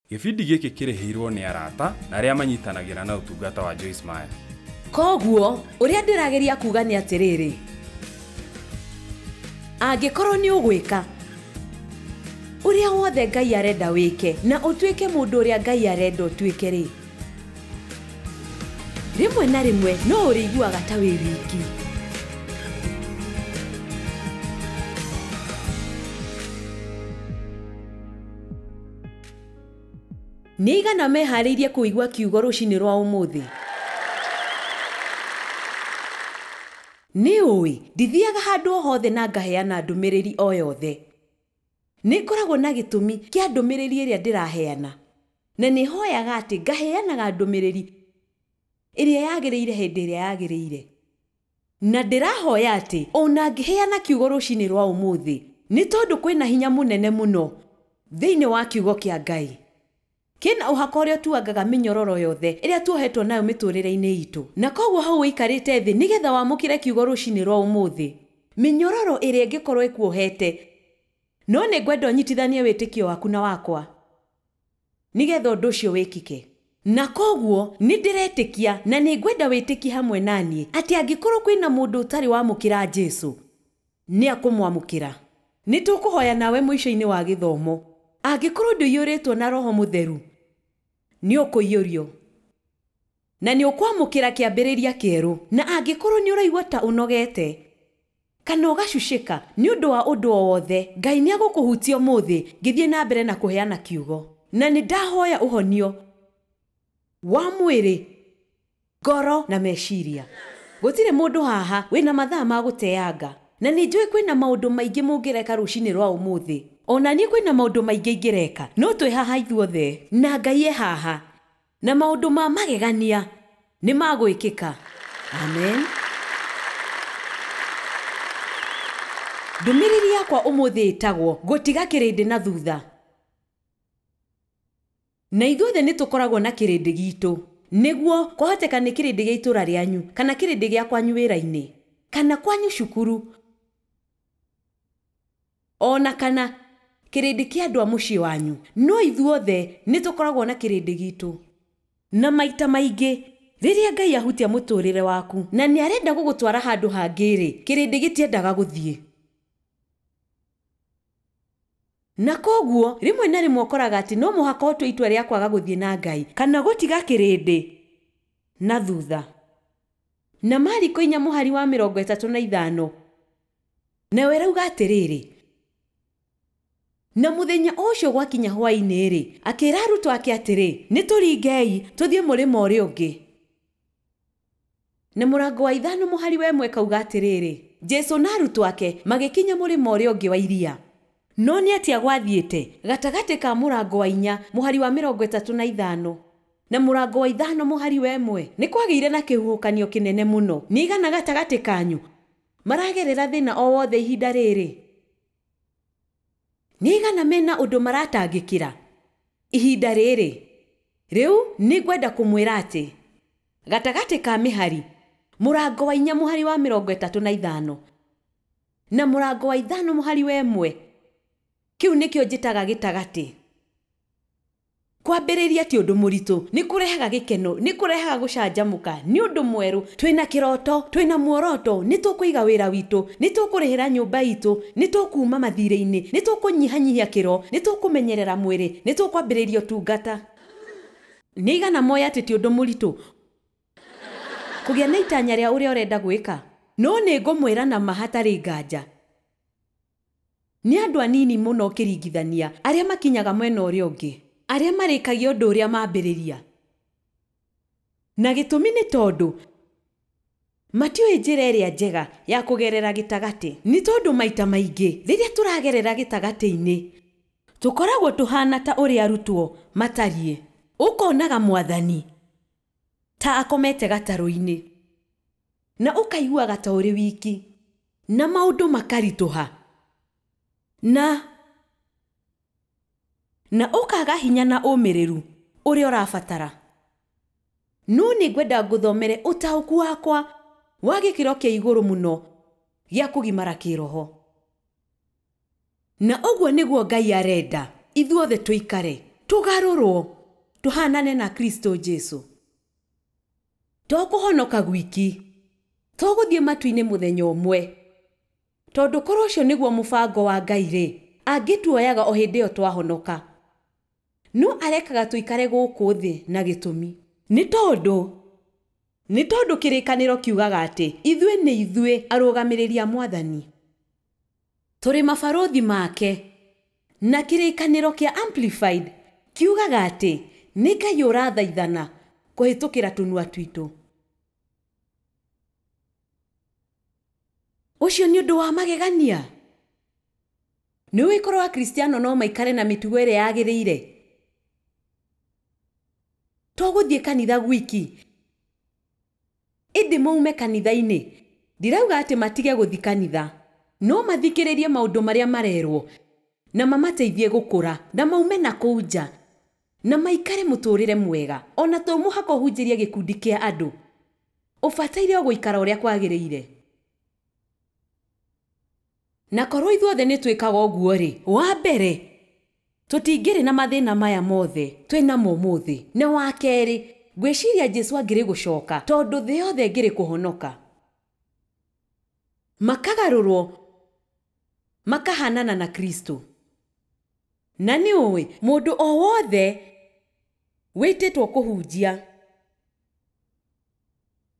Gĩbindi gĩkĩ kĩrĩhĩirwo nĩ arata na arĩa manyitanagĩra na ũtungata wa Joyce Meyer. Kwoguo, ũrĩa ndĩrageria kuuga nĩ atĩrĩrĩ, angĩkorũo nĩ ũgwĩka ũrĩa wothe Ngai arenda wĩke na ũtuĩke mũndũ ũrĩa Ngai arenda ũtuĩke-rĩ, rĩmwe na rĩmwe no ũrĩiguaga ta wĩ wiki. Nĩ aigana meharĩirie kũigua kiugo rũcinĩ rwa ũmũthĩ? Nĩ ũĩ, ndithiaga handũ o hothe na ngaheana ndũmĩrĩri o yothe. Nĩ ngoragwo na gĩtũmi kĩa ndũmĩrĩri ĩrĩa ndĩraheana, na nĩ hoyaga atĩ ngaheanaga ndũmĩrĩri ĩrĩa yagĩrĩire hĩndĩ ĩrĩa yagĩrĩire. Na ndĩrahoya atĩ o na ngĩheana kiugo rũcinĩ rwa ũmũthĩ, nĩ tondũ kwĩ na hinya mũnene mũno thĩinĩ wa Kiugo kĩa Ngai, kĩ na ũhaka ũrĩa ũtuangaga mĩnyororo yothe ĩrĩa tuohetwo nayo mĩtũũrĩre-inĩ itũ. Na kwoguo hau ũikarĩte thĩ nĩ getha wamũkĩre kiugo rũcinĩ rwa ũmũthĩ, mĩnyororo ĩrĩa ĩngĩkorũo ĩkuohete. No nĩ ngwenda ũnyitithanie wĩtĩkio waku na wakwa. Nĩ getha ũndũ ũcio wĩkike. Na kwoguo nĩ ndĩretĩkia, na nĩ ngwenda wĩtĩkie hamwe na niĩ, atĩ angĩkorwo kwĩ na mũndũ ũtarĩ wamũkĩra Jesu, nĩ akũmwamũkĩra. Nĩ tũkũhoya nawe mũico-inĩ wa gĩthomo. Angĩkorwo ndũiyũrĩtwo na Roho Mũtheru, nĩ ũkũiyũrio. Na nĩ ũkwamũkĩra kĩambĩrĩria kĩerũ. Na angĩkorwo nĩ ũraigua ta ũnogete. Kana ũgacucĩka nĩ ũndũ wa ũndũ o wothe, Ngai nĩ egũkũhutia ũmũthĩ ngĩthiĩ na mbere na kũheana Kiugo. Na nĩ ndahoya ũhonio wa mwĩrĩ, ngoro, na meciria. Gũtirĩ mũndũ haha wĩ na mathaa ma gũteanga. Na nĩ njũĩ kwĩ na maũndũ maingĩ mũngĩreka rũcinĩ rwa ũmũthĩ. O na niĩ kwĩ na maũndũ maingĩ ingĩreka, no twĩ haha ithuothe, na Ngai e haha. Na maũndũ ma magegania nĩ ma gwĩkĩka. Amen. Ndũmĩrĩri yakwa ũmũthĩ ĩtagwo, Gũtiga Kĩrĩndĩ na Thutha. Na ithuothe nĩ tũkoragwo na kĩrĩndĩ gitũ. Nĩguo, kwahoteka nĩ kĩrĩndĩ gĩa itũũra rĩanyu, kana kĩrĩndĩ gĩa kwanyu wĩra-inĩ, kana kwanyu cukuru. O na kana, kĩrĩndĩ kĩa andũ a mũciĩ wanyu. No ithuothe nĩ tũkoragwo na kĩrĩndĩ gitũ. Na maita maingĩ, rĩrĩa Ngai ahutia mũtũũrĩre waku na nĩ arenda gũgũtwara handũ hangĩ-rĩ, kĩrĩndĩ gĩtiendaga gũthiĩ. Na kwoguo, rĩmwe na rĩmwe ũkoraga atĩ no mũhaka ũtue itua rĩa kwaga gũthiĩ na Ngai, kana gũtiga kĩrĩndĩ na thutha. Na Mariko inya mũhari wa mĩrongo ĩtatũ na ithano, nayo ĩrauga atĩrĩrĩ, Na mũthenya o ũcio gwakinya hwaĩ-inĩ-rĩ, akĩĩra arutwo ake atĩrĩ, Nĩtũringei, tũthiĩ mũrĩmo ũrĩa ũngĩ. Na mũrango wa ithano mũhari wa ĩmwe ĩkauga atĩrĩrĩ, Jesũ na arutwo ake magĩkinya mũrĩmo ũrĩa ũngĩ wa iria. No nĩ atĩa gwathiĩte gatagatĩ ka mũrango wa inya mũhari wa mĩrongo ĩtatũ na ithano? Na mũrango wa ithano mũhari wa ĩmwe. Nĩ kwagĩire na kĩhuhũkanio kĩnene mũno. Nĩ aigana gatagatĩ kanyu maragerera thĩna o wothe ihinda rĩrĩ? Nĩ aigana me na ũndũ maratangĩkĩra ihinda rĩrĩ? Rĩu nĩ ngwenda kũmwĩra atĩ gatagatĩ ka mĩhari, mũrango wa inya mũhari wa mĩrongo ĩtatũ na ithano na mũrango wa ithano mũhari wa ĩmwe, kĩu nĩkĩo njĩtaga gĩtagatĩ. Kwambĩrĩria ti ũndũ mũritũ. Nĩ kũrehaga gĩkeno. Nĩ kũrehaga gũcanjamũka. Nĩ ũndũ mwerũ. Twĩ na kĩroto. Twĩ na muoroto. Nĩ tũkũiga wĩra witũ. Nĩ tũkũrĩhĩra nyũmba itũ. Nĩ tũkuuma mathiirĩ-inĩ. Nĩ tũkũnyihanyihia kĩro. Nĩ tũkũmenyerera mwĩrĩ. Nĩ tũkwambĩrĩria ũtungata. Nĩ aigana moĩ atĩ ti ũndũ mũritũ kũgĩa na itanya rĩa ũrĩa ũrenda gwĩka? No nĩ ngũmwĩra na ma hatarĩ nganja. Nĩ andũ anini mũno ũkĩringithania arĩa makinyaga mwena ũrĩa ũngĩ, arĩa marĩkagia ũndũ ũrĩa mambĩrĩria. Na gĩtũmi nĩ tondũ matiũĩ njĩra ĩrĩa njega ya kũgerera gĩtagatĩ. Nĩ tondũ maita maingĩ rĩrĩa tũragerera gĩtagatĩ-inĩ, tũkoragwo tũhaana ta ũrĩa arutwo matariĩ. Ũkonaga Mwathani. Ta akomete gatarũ-inĩ. Na ũkaiguaga ta ũrĩ wiki. Na maũndũ makaritũha. Na. Na ũkaaga hinya na ũmĩrĩru ũrĩa ũrabatara. No nĩ ngwenda ngũthomere ũtaũku wakwa wa gĩkĩro kĩa igũrũ mũno gĩa kũgimara kĩĩroho. Na ũguo nĩguo Ngai arenda ithuothe tũikare, tũgarũrũo tũhaanane na Kristo Jesu. To kũhonoka gwiki. To gũthiĩ matu-inĩ mũthenya ũmwe. Tondũ korũo ũcio nĩguo mũbango wa Ngai-rĩ, angĩtuoyaga o hĩndĩ ĩyo twahonoka. No arekaga tũikare gũkũ thĩ na gĩtũmi. Nĩ tondũ Nĩ tondũ kĩrĩkanĩro kiugaga atĩ ithuĩ nĩ ithuĩ arũgamĩrĩri a Mwathani. Tũrĩ mabarũthi make. Na kĩrĩkanĩro kĩa Amplified kiugaga atĩ nĩ Ngai ũrathaithana kũhĩtũkĩra tũnua twitũ. Ũcio nĩ ũndũ wa magegania? Nĩũĩ korũo Akristiano no maikare na mĩtugo ĩrĩa yagĩrĩire? to gũthiĩ kanitha gwiki ĩndĩ maume kanitha-inĩ ndirauga atĩ matige gũthi kanitha no mathikĩrĩrie maũndũ marĩa marerwo na mamateithie gũkũra na maume na kũu nja na maikare mũtũrĩre mwega ona to mũhaka ũhunjĩrie gĩkundi kĩa andũ ũbataire o gũikara ũrĩa kwagĩrĩire. Na korwo ithuothe nĩ twĩkaga ũguo-rĩ, wa mbere, tũtingĩrĩ na mathĩna maya mothe twĩ namo ũmũthĩ, na wa kerĩ, ngwĩciria Jesu angĩrĩ gũcoka tondũ thĩ yothe ĩngĩrĩ kũhonoka, makagarũrwo makahaanana na Kristo. Na nĩ ũĩ, mũndũ o wothe wĩtĩtwo kũhunjia.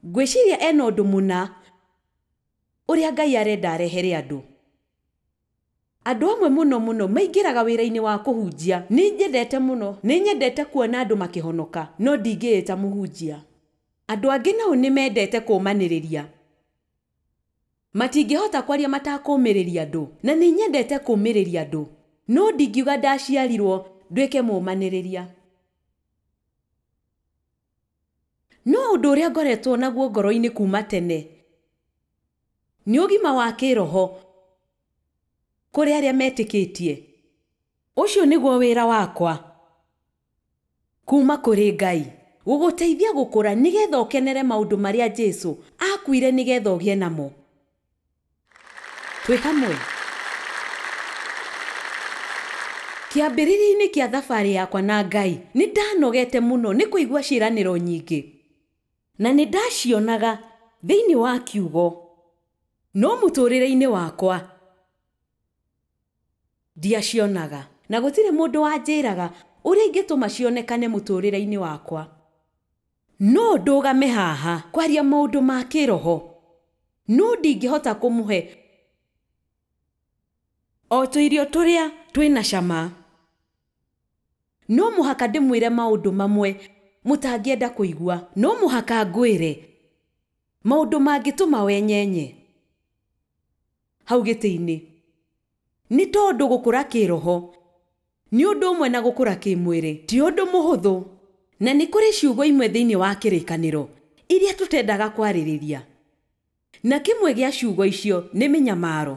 Ngwĩciria e na ũndũ mũna ũrĩa Ngai arenda arehere andũ. Andũ amwe mũno mũno maingĩraga wĩra-inĩ wa kũhunjia. Nĩ njendete mũno. Nĩ nyendete kuona andũ makĩhonoka, no ndingĩĩta mũhunjia. Andũ angĩ nao nĩ mendete kũũmanĩrĩria. Matingĩhota kwaria matakũũmĩrĩria andũ. Na nĩ nyendete kũũmĩrĩria andũ. No ndingiuga ndaciarirũo nduĩke mũũmanĩrĩria. No ũndũ ũrĩa ngoretwo naguo ngoro-inĩ kuuma tene nĩ ũgima wa kĩĩroho kũrĩ arĩa metĩkĩtie. Ũcio nĩguo wĩra wakwa kuuma kũrĩ Ngai, gũgũteithia gũkũra nĩgetha ũkenere maũndũ marĩa Jesu aakuire nĩgetha ũgĩe namo. Twĩ hamwe? Kĩambĩrĩria-inĩ kĩa thabarĩ yakwa na Ngai, nĩ ndanogete mũno nĩ kũigua ciĩranĩro nyingĩ, na nĩ ndacionaga thĩinĩ wa Kiugo. No mũtũũrĩre-inĩ wakwa ndiacionaga, na gũtirĩ mũndũ wanjĩraga ũrĩa ingĩtũma cionekane mũtũũrĩre-inĩ wakwa. No ndũgame haha kwaria maũndũ ma kĩroho. No ndingĩhota kũmũhe o tũirio tũrĩa twĩ na cama. No mũhaka ndĩmwĩre maũndũ mamwe mũtangĩenda kũigua. No mũhaka ngwĩre maũndũ mangĩtũma wenyenye hau gĩtĩ-inĩ. Nĩ tondũ gũkũra kĩĩroho, nĩ ũndũ ũmwe na gũkũra kĩĩmwĩrĩ, ti ũndũ mũhũthũ, na nĩ kũrĩ ciugo imwe thĩinĩ wa Kĩrĩkanĩro iria tũtendaga kwarĩrĩria, na kĩmwe gĩa ciugo icio nĩ mĩnyamaro.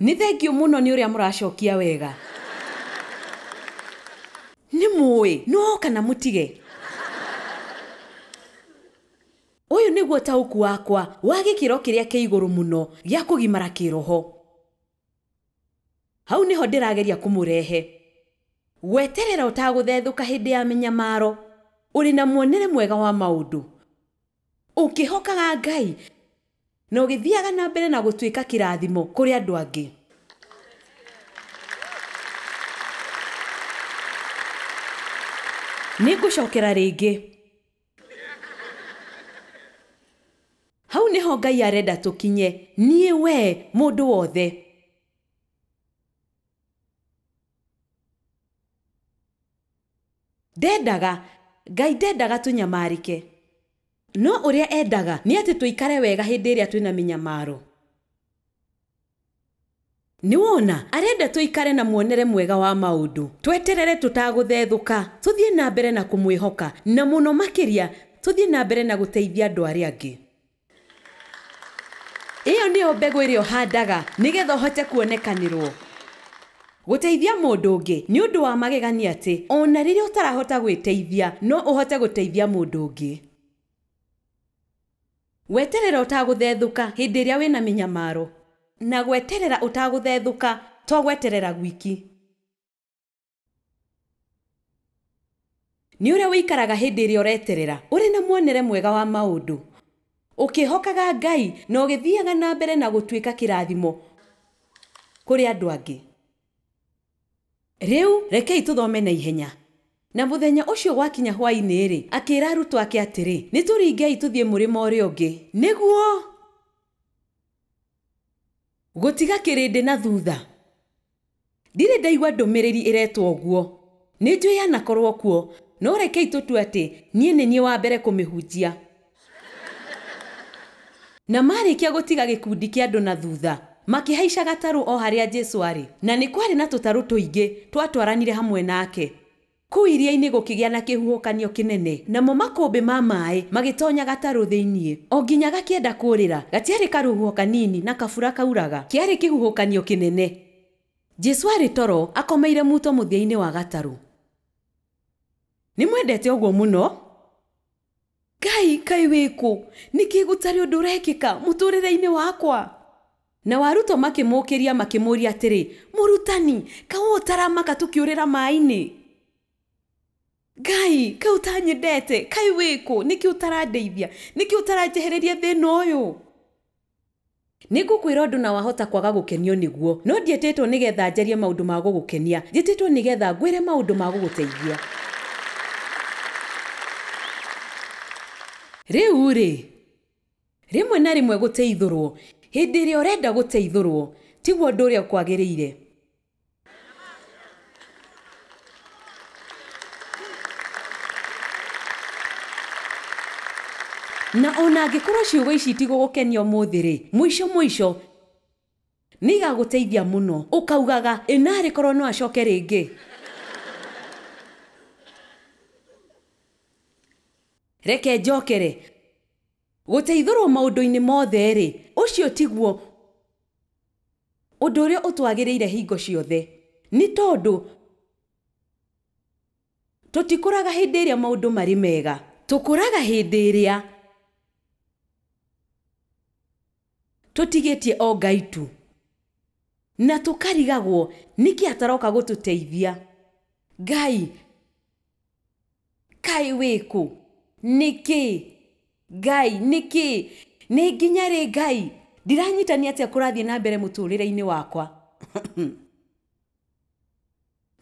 Nĩ thengiũ mũno nĩ ũrĩa mũracokia wega. Nĩ mũũĩ, no kana mũtige. Ũyũ nĩguo ũtaũku wakwa wa gĩkĩro kĩrĩa kĩa igũrũ mũno gĩa kũgimara kĩĩroho. Hau nĩho ndĩrageria kũmũrehe. Gweterera ũtagũthethũka hĩndĩ ya mĩnyamaro, ũrĩ na muonere mwega wa maũndũ, ũkĩhokaga Ngai, na ũgĩthiaga na mbere na gũtuĩka kĩrathimo kũrĩ andũ angĩ. Nĩngũcokera rĩngĩ. Hau nĩho Ngai arenda tũkinye, niĩ, wee, mũndũ wothe. Ndendaga, Ngai ndendaga tũnyamarĩke. No ũrĩa endaga nĩ atĩ tũikare wega hĩndĩ ĩrĩa twĩna mĩnyamaro. Nĩwona, arenda tũikare na muonere mwega wa maũndũ, tweterere tũtagũthethũka, tũthiĩ na mbere na kũmwĩhoka, na mũno makĩria tũthiĩ na mbere na gũteithia andũ arĩa angĩ. Ĩyo nĩyo mbegũ ĩrĩa ũhandaga nĩgetha ũhote kuonekanĩrũo. Gũteithia mũndũ ũngĩ. Nĩ ũndũ wa magegania atĩ o na rĩrĩa ũtarahota gwĩteithia, no ũhote gũteithia mũndũ ũngĩ. Gweterera ũtagũthethũka hĩndĩ ĩrĩa wĩ na mĩnyamaro. Na gweterera ũtagũthethũka, to gweterera gwiki. Nĩ ũrĩa ũikaraga hĩndĩ ĩrĩa ũreterera, ũrĩ na muonere mwega wa maũndũ, ũkĩhokaga Ngai, na ũgĩthiaga na mbere na gũtuĩka kĩrathimo kũrĩ andũ angĩ. Rĩu rekei tũthome na ihenya. Na mũthenya ũcio gwakinya hwaĩ-inĩ-rĩ, akĩĩra arutwo ake atĩrĩ, Nĩtũringei tũthiĩ mũrĩmo ũrĩa ũngĩ, nĩguo gũtiga kĩrĩndĩ na thuutha. Ndirĩ ndaigua ndũmĩrĩri ĩretwo ũguo. Nĩnjũĩ yanakorwo kuo, no rekei tũtue atĩ niĩ nĩ niĩ wa mbere kũmĩhunjia. Na maarĩkia gũtiga gĩkundi kĩa andũ na thuutha, makĩhaica gatarũ o harĩa Jesũ arĩ, na nĩ kwarĩ na tũtarũ tũingĩ twatwaranire hamwe nake. Kũu iria-inĩ gũkĩgĩa na kĩhuhũkanio kĩnene, namo makũmbĩ ma maaĩ magĩtoonya gatarũ thĩinĩ. O nginya gakĩenda kũũrĩra, gatiarĩ karũhuho kanini na kabura kauraga, kĩarĩ kĩhuhũkanio kĩnene. Jesũ arĩ toro, akomeire muuto mũthia-inĩ wa gatarũ. Nĩmwendete ũguo mũno? ngai kaĩ wĩ kũ nĩkĩ gũtarĩ ũndũ ũrekĩka mũtũrĩre-inĩ wakwa nao arutwo makĩmũũkĩria makĩmũũria atĩrĩ mũrutani kaĩ ũũ ũtaramaka tũkĩũrĩra maĩ-inĩ ngai kaĩ ũtanyendete kaĩ wĩ kũ nĩkĩ ũtarandeithia nĩkĩ ũtaranjehereria thĩna ũyũ Nĩngũkwĩra ũndũ na wahota kwaga gũkenio nĩguo. No ndiĩtĩtwo nĩgetha njarie maũndũ ma gũgũkenia. Njĩtĩtwo nĩgetha ngwĩre maũndũ ma gũgũteithia. Rĩu-rĩ, rĩmwe na rĩmwe gũteithũrũo, hĩndĩ ĩrĩa ũrenda gũteithũrũo, tiguo ũndũ ũrĩa ũkwagĩrĩire. na ona angĩkorwo ciugo ici itigũgũkenia ũmũthĩ-rĩ mũico mũico nĩ igagũteithia mũno ũkaugaga ĩnarĩ korwo no acoke rĩngĩ reke njokere gũteithũrwo maũndũ-inĩ mothe-rĩ ũcio tiguo Ũndũ ũrĩa ũtwagĩrĩire hingo ciothe, nĩ tondũ tũtikũraga hĩndĩ ĩrĩa maũndũ marĩ mega. Tũkũraga hĩndĩ ĩrĩa tũtigĩtie o Ngai tu, na tũkarigagwo nĩkĩ ataroka gũtũteithia. Ngai. Kaĩ wĩ kũ? Nĩkĩ? Ngai, nĩkĩ? Nĩ nginya rĩ, Ngai? Ndiranyita nĩ atĩa kũrathiĩ na mbere mũtũũrĩre-inĩ wakwa.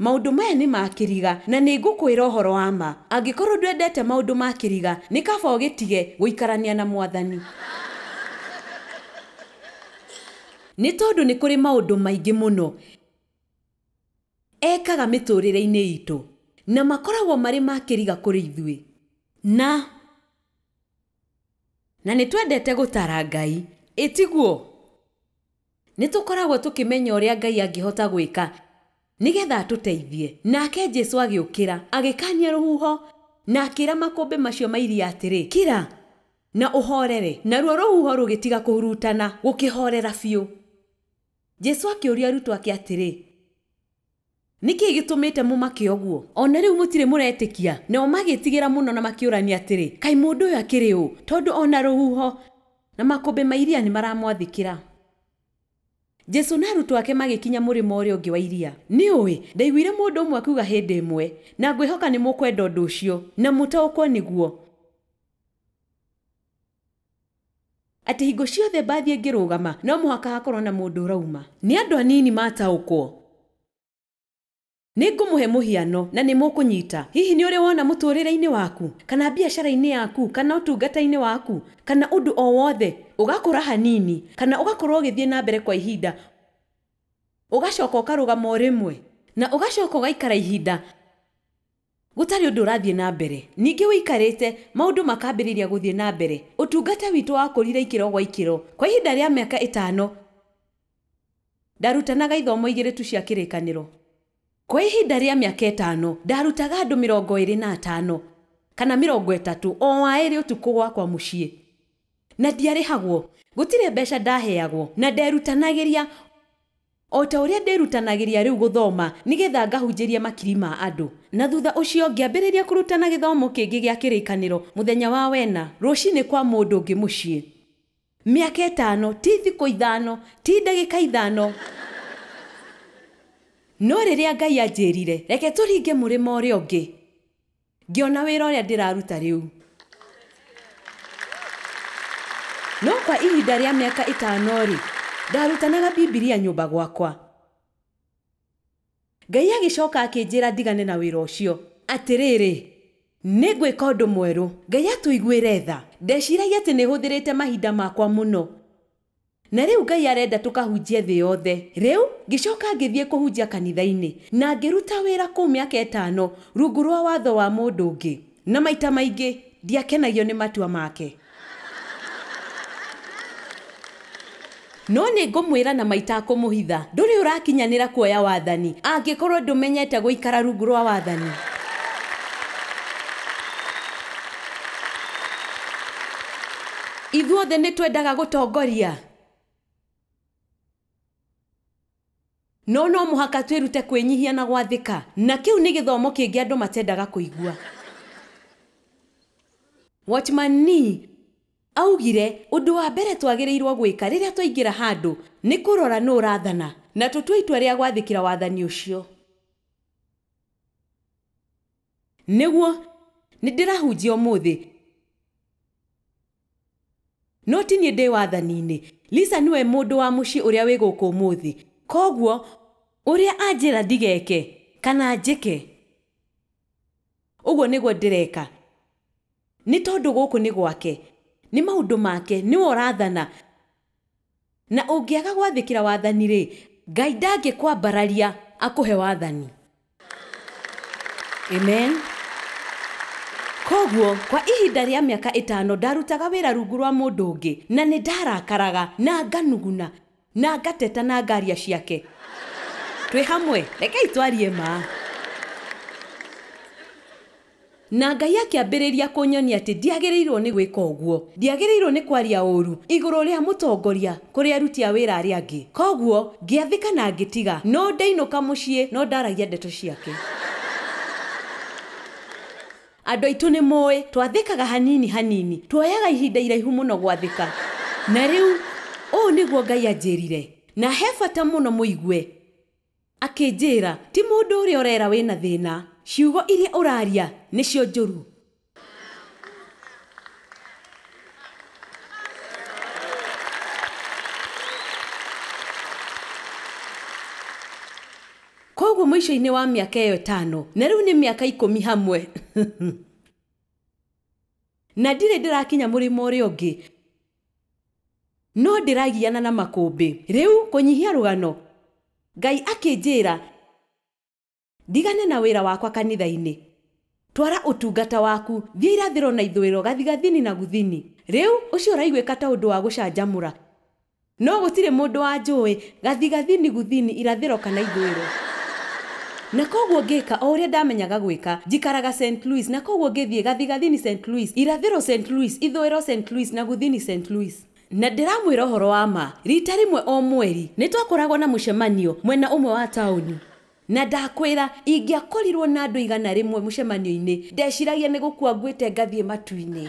Maũndũ maya nĩ ma kĩriga, na nĩ ngũkwĩra ũhoro wa ma. Angĩkorũo ndwendete maũndũ ma kĩriga, nĩ kaba ũgĩtige gũikarania na Mwathani. Nĩ tondũ nĩ kũrĩ maũndũ maingĩ mũno. Ekaga mĩtũũrĩre-inĩ itũ. Na makoragwo marĩ ma kĩriga kũrĩ ithuĩ. Na. Na nĩ twendete gũtara Ngai. Ĩ tiguo? Nĩ tũkoragwo tũkĩmenya ũrĩa Ngai angĩhota gwĩka nĩ getha atũteithie. Nake Jesu agĩũkĩra, agĩkaania rũhuho, na akĩra makũmbĩ macio ma iria atĩrĩ, Kira, na ũhoorere. Naruo rũhuho rũgĩtiga kũhurutana, gũkĩhoorera biũ. Jesu akĩũria arutwo ake atĩrĩ, Nĩ kĩĩ gĩtũmĩte mũmake ũguo? O na rĩu mũtirĩ mũretĩkia? Nao magĩĩtigĩra mũno na makĩũrania atĩrĩ, Kaĩ mũndũ ũyũ akĩrĩ ũ, tondũ o na rũhuho na makũmbĩ ma iria nĩ maramwathĩkĩra? Jesu na arutwo ake magĩkinya mũrĩmo ũrĩa ũngĩ wa iria. Nĩ ũĩ, ndaiguire mũndũ ũmwe akiuga hĩndĩ ĩmwe, na ngwĩhoka nĩ mũkwenda ũndũ ũcio, na mũtaũkwo nĩguo. Atĩ hingo ciothe mbathi ĩngĩrũgama, no mũhaka hakorwo na mũndũ ũrauma. Nĩ andũ anini mataũkwo. Nĩ ngũmũhe mũhiano, na nĩ mũkũnyita. Hihi nĩ ũrĩ wona mũtũũrĩre-inĩ waku, kana biacara-inĩ yaku, kana ũtungata-inĩ waku, kana ũndũ o wothe, ũgakũra hanini, kana ũgakorwo ũgĩthiĩ na mbere kwa ihinda, ũgacoka ũkarũgama o rĩmwe, na ũgacoka ũgaikara ihinda, Gũtarĩ ũndũ ũrathiĩ na mbere. Ningĩ ũikarĩte, maũndũ makambĩrĩria gũthiĩ na mbere. Ũtungata witũ wakũrire ikĩro gwa ikĩro. Kwa ihinda rĩa mĩaka ĩtano, ndarutanaga ithomo igĩrĩ tu cia Kĩrĩkanĩro. Kwa ihinda rĩa mĩaka ĩtano, ndarutaga andũ mĩrongo ĩrĩ na atano kana mĩrongo ĩtatũ o a ĩrĩ ũtukũ gwakwa mũciĩ. Na ndiarĩhagwo. Gũtirĩ mbeca ndaheagwo. Na nderutanagĩria. O ta ũrĩa ndĩĩrutanagĩria rĩu gũthoma nĩ getha ngahunjĩrie makiri ma andũ. Na thutha ũcio ngĩambĩrĩria kũrutana gĩthomo kĩngĩ gĩa Kĩrĩkanĩro mũthenya wa wena rũcinĩ kwa mũndũ ũngĩ mũciĩ. Mĩaka ĩtano ti thikũ ithano, ti ndagĩka ithano. No rĩrĩa Ngai anjĩĩrire, Reke tũringe mũrĩma ũrĩa ũngĩ. Ngĩona wĩra ũrĩa ndĩraruta rĩu. No kwa ihinda rĩa mĩaka ĩtano-rĩ, ndarutanaga Bibilia nyũmba gwakwa. Ngai agĩcoka akĩnjĩra ndigane na wĩra ũcio. Atĩrĩrĩ, nĩ ngwĩka ũndũ mwerũ. Ngai atũiguĩre tha. Ndeciragia atĩ nĩ hũthĩrĩte mahinda makwa mũno. Na rĩu Ngai arenda tũkahunjie thĩ yothe. Rĩu, ngĩcoka ngĩthiĩ kũhunjia kanitha-inĩ, na ngĩruta wĩra kũu mĩaka ĩtano rungu rwa watho wa mũndũ ũngĩ. Na maita maingĩ ndiakenagio nĩ matua make. No nĩ ngũmwĩra na ma itakũmũhitha, ndũrĩ ũrakinyanĩra kuoya wathani, angĩkorũo ndũmenyete gũikara rungu rwa wathani. Ithuothe nĩ twendaga gũtongoria. No no mũhaka twĩrute kwĩnyihia na gwathĩka. Na kĩu nĩ gĩthomo kĩngĩ andũ matendaga kũigua. Watchman Nee aaugire, Ũndũ wa mbere twagĩrĩirũo gwĩka rĩrĩa twaingĩra handũ nĩ kũrora nũ ũrathana, na tũtue itua rĩa gwathĩkĩra wathani ũcio. Nĩguo, nĩndĩrahunjia ũmũthĩ. No ti niĩ ndĩ wathani-inĩ. Lisa nĩwe mũndũ wa mũciĩ ũrĩa wĩ gũkũ ũmũthĩ. Kwoguo, ũrĩa anjĩra ndigeke, kana njĩke, ũguo nĩguo ndĩreka. Nĩ tondũ gũkũ nĩ gwake. Nĩ maũndũ make. Nĩwe ũrathana. Na ũngĩaga gwathĩkĩra wathani-rĩ, Ngai ndangĩkwambararia akũhe wathani. Amen. Kwoguo, kwa ihinda rĩa mĩaka ĩtano ndarutaga wĩra rungu rwa mũndũ ũngĩ, na nĩ ndarakaraga, na nganuguna, na ngateta na ngaaria ciake. Twĩ hamwe? Rekei twarie ma. Na Ngai akĩambĩrĩria kũnyonia atĩ ndiagĩrĩirũo nĩ gwĩka ũguo. Ndiagĩrĩirũo nĩ kwaria ũũru igũrũ rĩa mũtongoria kũrĩ aruti a wĩra arĩa angĩ. Kwoguo ngĩathĩka na ngĩtiga. No ndainũka mũciĩ no ndaragia ndeto ciake. Andũ aitũ nĩ mũĩ, twathĩkaga hanini hanini. Tuoyaga ihinda iraihu mũno gwathĩka. Na rĩu, ũũ nĩguo Ngai anjĩrire, Na he bata mũno mũigue. Akĩnjĩĩra, Ti mũndũ ũrĩa ũreera wĩ na thĩĩna. Ciugo iria ũraaria nĩcio njũru. Kwoguo mũicoinĩ wa mĩaka ĩyo ĩtaano, na rĩu nĩ mĩaka ikũmi hamwe, na ndirĩ ndĩrakinya mũrĩmo ũrĩa ũngĩ, No ndĩragiana na makũmbĩ. Rĩu kũnyihia rũgano, Ngai akĩnjĩra ndigane na wĩra wakwa kanitha-inĩ. Twara ũtungata waku, thiĩ irathĩro na ithũĩro, gathigathini na guthini. Rĩu ũcio ũraiguĩka ta ũndũ wa gũcanjamũra, no gũtirĩ mũndũ wanjũĩ, Gathigathini gũthini irathĩro kana ithũĩro. Na kwoguo ngĩka o ũrĩa ndamenyaga gwĩka. Njikaraga Saint Louis, na kwoguo ngĩthiĩ gathigathini Saint Louis, irathĩro Saint Louis, ithũĩro Saint Louis, na gũthini Saint Louis. Na ndĩramwĩra ũhoro wa ma, riita rĩmwe o mweri, nĩ twakoragwo na mũcemanio mwena ũmwe wa taũni. Na ndakwĩra, ingĩakorirũo na andũ igana rĩmwe mũcemanio-inĩ, ndeciragia nĩ gũkua nguĩte ngathiĩ matu-inĩ.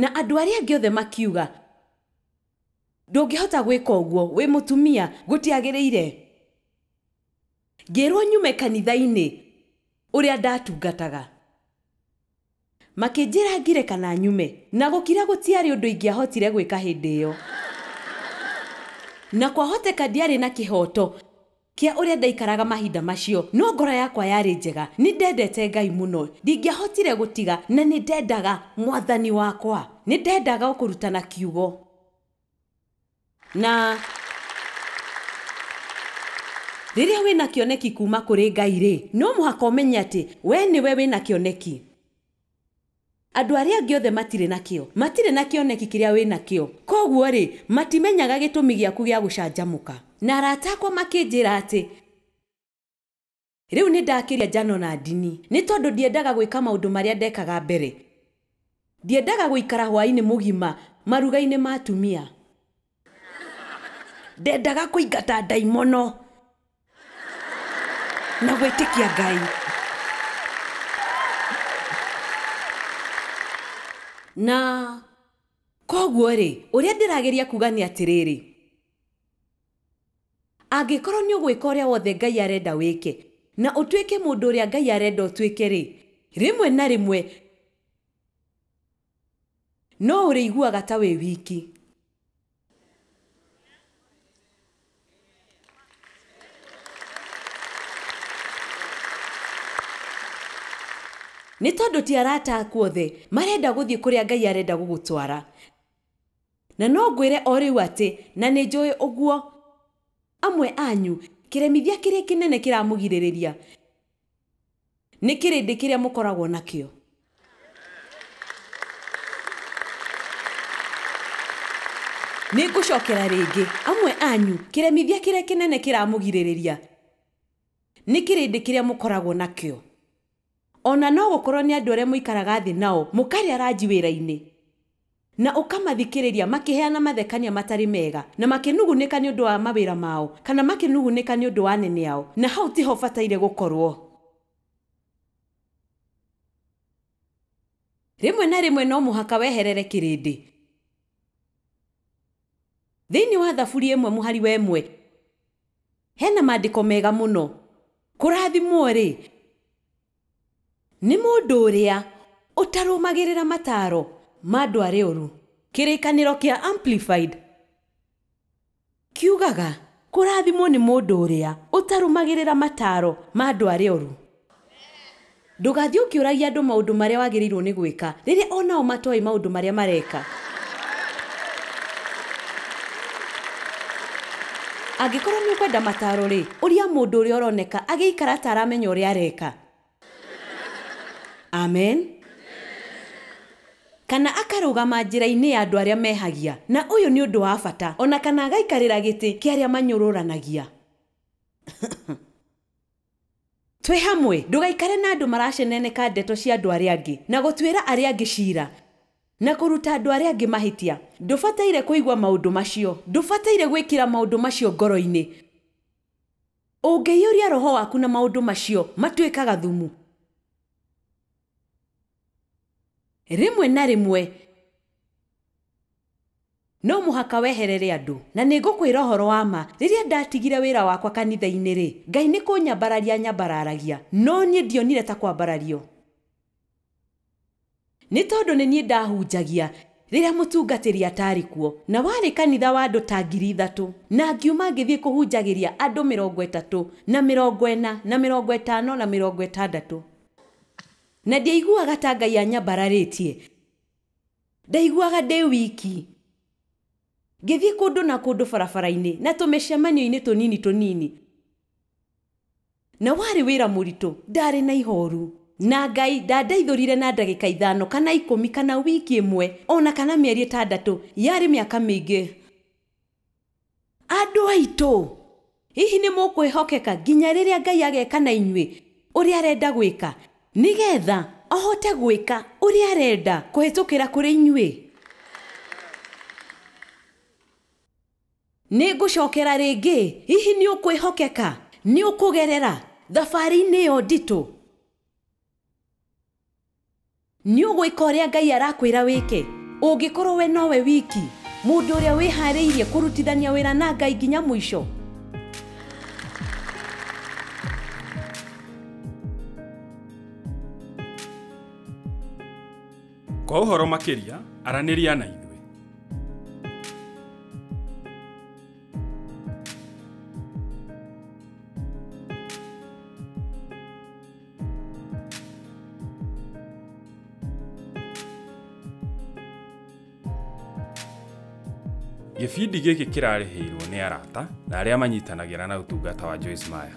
Na andũ arĩa angĩ othe makiuga, Ndũngĩhota gwĩka ũguo, wĩ mũtumia, gũtiagĩrĩire. Ngĩĩrwo nyume kanitha-inĩ ũrĩa ndatungataga. Makĩnjĩra ngire kana nyume, na gũkira gũtiarĩ ũndũ ingĩahotire gwĩka hĩndĩ ĩyo. Na kwahoteka ndiarĩ na kĩhooto. Kĩa ũrĩa ndaikaraga mahinda macio, no ngoro yakwa yarĩ njega. Nĩ ndendete Ngai mũno. Ndingĩahotire gũtiga, na nĩ ndendaga Mwathani wakwa. Nĩ ndendaga o kũrutana Kiugo. Na rĩrĩa wĩ na kĩoneki kuuma kũrĩ Ngai-rĩ, no mũhaka ũmenye atĩ wee nĩwe wĩ na kĩoneki. Andũ arĩa angĩ othe matirĩ na kĩyo. Matirĩ na kĩoneki kĩrĩa wĩ nakĩo. Kwoguo-rĩ, matimenyaga gĩtũmi gĩaku gĩa gũcanjamũka. Na arata akwa makĩnjĩra atĩ. Rĩu nĩ ndakĩria njano na ndini. Nĩ tondũ ndiendaga gwĩka maũndũ marĩa ndekaga mbere. Ndiendaga gũikara hwaĩ-inĩ mũgima maruga-inĩ ma atumia. Ndendaga kũingata ndaimono na gwĩtĩkia Ngai. Na koguo-rĩ, ũrĩa ndĩrageria kuga nĩ atĩrĩrĩ, angĩkorwo nĩ ũgwĩka ũrĩa wothe Ngai arenda wĩke, na ũtuĩke mũndũ ũrĩa Ngai arenda ũtuĩke-rĩ, rĩmwe na rĩmwe No ũrĩiguaga ta wĩ wiki. Nĩ tondũ ti arata aku othe marenda gũthiĩ kũrĩa Ngai arenda gũgũtwara. Na no ngwĩre o rĩu atĩ, na nĩ njũĩ ũguo, amwe anyu kĩremithia kĩrĩa kĩnene kĩramũgirĩrĩria. Nĩ kĩrĩndĩ kĩrĩa mũkoragwo nakĩo. Nĩ ngũcokera rĩngĩ. Amwe anyu, kĩremithia kĩrĩa kĩnene kĩramũgirĩrĩria nĩ kĩrĩndĩ kĩrĩa mũkoragwo nakĩo. O na no gũkorũo nĩ andũ arĩa mũikaraga thĩ nao, mũkarĩa ranji wĩra-inĩ. Na ũkamathikĩrĩria makĩheana mathekania matarĩ mega, na makĩnugunĩka nĩ ũndũ wa mawĩra mao, kana makĩnugunĩka nĩ ũndũ wa anene ao, na hau ti ho ũbataire gũkorũo. Rĩmwe na rĩmwe no mũhaka weherere kĩrĩndĩ. Thĩinĩ wa Thaburi ĩmwe mũhari wa ĩmwe he na maandĩko mega mũno. Kũrathimwo-rĩ! Nĩ mũndũ ũrĩa ũtarũmagĩrĩra mataaro ma andũ arĩa oru. Kĩrĩkanĩro kĩa Amplified kiugaga, Kũrathimwo nĩ mũndũ ũrĩa ũtarũmagĩrĩra mataaro ma andũ arĩa oru. Ndũgathiĩ ũkĩũragia andũ maũndũ marĩa wagĩrĩirũo nĩ gwĩka rĩrĩa o nao matoĩ maũndũ marĩa mareka. Angĩkorwo nĩũkwenda mataaro-rĩ, ũria mũndũ ũrĩa ũroneka agĩikara ta aramenya ũrĩa areka. Amen. Kana akarũgama njĩra-inĩ ya andũ arĩa mehagia, na ũyũ nĩ ũndũ wa bata, o na kana agaikarĩra gĩtĩ kĩa arĩa manyũrũranagia. Twĩ hamwe, ndũgaikare na andũ maraceneneka ndeto cia andũ arĩa angĩ, na gũtuĩra arĩa angĩ ciira, na kũruta andũ arĩa angĩ mahĩtia. Ndũbataire kũigua maũndũ macio. Ndũbataire gwĩkĩra maũndũ macio ngoro-inĩ. Ũngĩiyũria roho waku na maũndũ macio, matuĩkaga thumu. Rĩmwe na rĩmwe, No mũhaka weherere andũ. Na nĩngũkwĩra ũhoro wa ma, rĩrĩa ndatigire wĩra wakwa kanitha-inĩ-rĩ, Ngai nĩ kũnyambararia aanyambararagia, no niĩ ndionire ta kwambarario. Nĩ tondũ nĩ niĩ ndahunjagia rĩrĩa mũtungatĩri ataarĩ kuo, na warĩ kanitha wa andũ ta ngiri ithatũ. Na ngiuma ngĩthiĩ kũhunjagĩria andũ mĩrongo ĩtatũ, na mĩrongo ĩna, na mĩrongo ĩtano, na mĩrongo ĩtandatũ. Na ndiaiguaga ta Ngai aanyambararĩtie. Ndaiguaga ndĩ wiki. Ngĩthiĩ kũndũ na kũndũ barabara-inĩ na tũmĩcemanio-inĩ tũnini tũnini. Na warĩ wĩra mũritũ. Ndaarĩ na ihooru. Na Ngai ndandaithũrire na ndagĩka ithano kana ikũmi kana wiki ĩmwe o na kana mĩeri ĩtandatũ. Yarĩ mĩaka mĩingĩ. andũ aitũ hihi nĩ mũkwĩhokeka nginya rĩrĩa ngai ageka na inyuĩ ũrĩa arenda gwĩka nĩgetha ahote gwĩka ũrĩa arenda kũhĩtũkĩra kũrĩ inyuĩ nĩ ngũcokera rĩngĩ hihi nĩ ũkwĩhokeka nĩ ũkũgerera thabarĩ-inĩ ĩyo nditũ Nĩ ũgwĩka ũrĩa Ngai arakwĩra wĩke? Ũngĩkorũo we nowe wiki mũndũ ũrĩa wĩhaarĩirie kũrutithania wĩra na Ngai nginya mũico, Kwa ũhoro makĩria, aranĩria na ithuĩ. Gĩbindi gĩkĩ kĩrarĩhĩirwo nĩ arata na arĩa manyitanagĩra na ũtungata wa Joyce Meyer.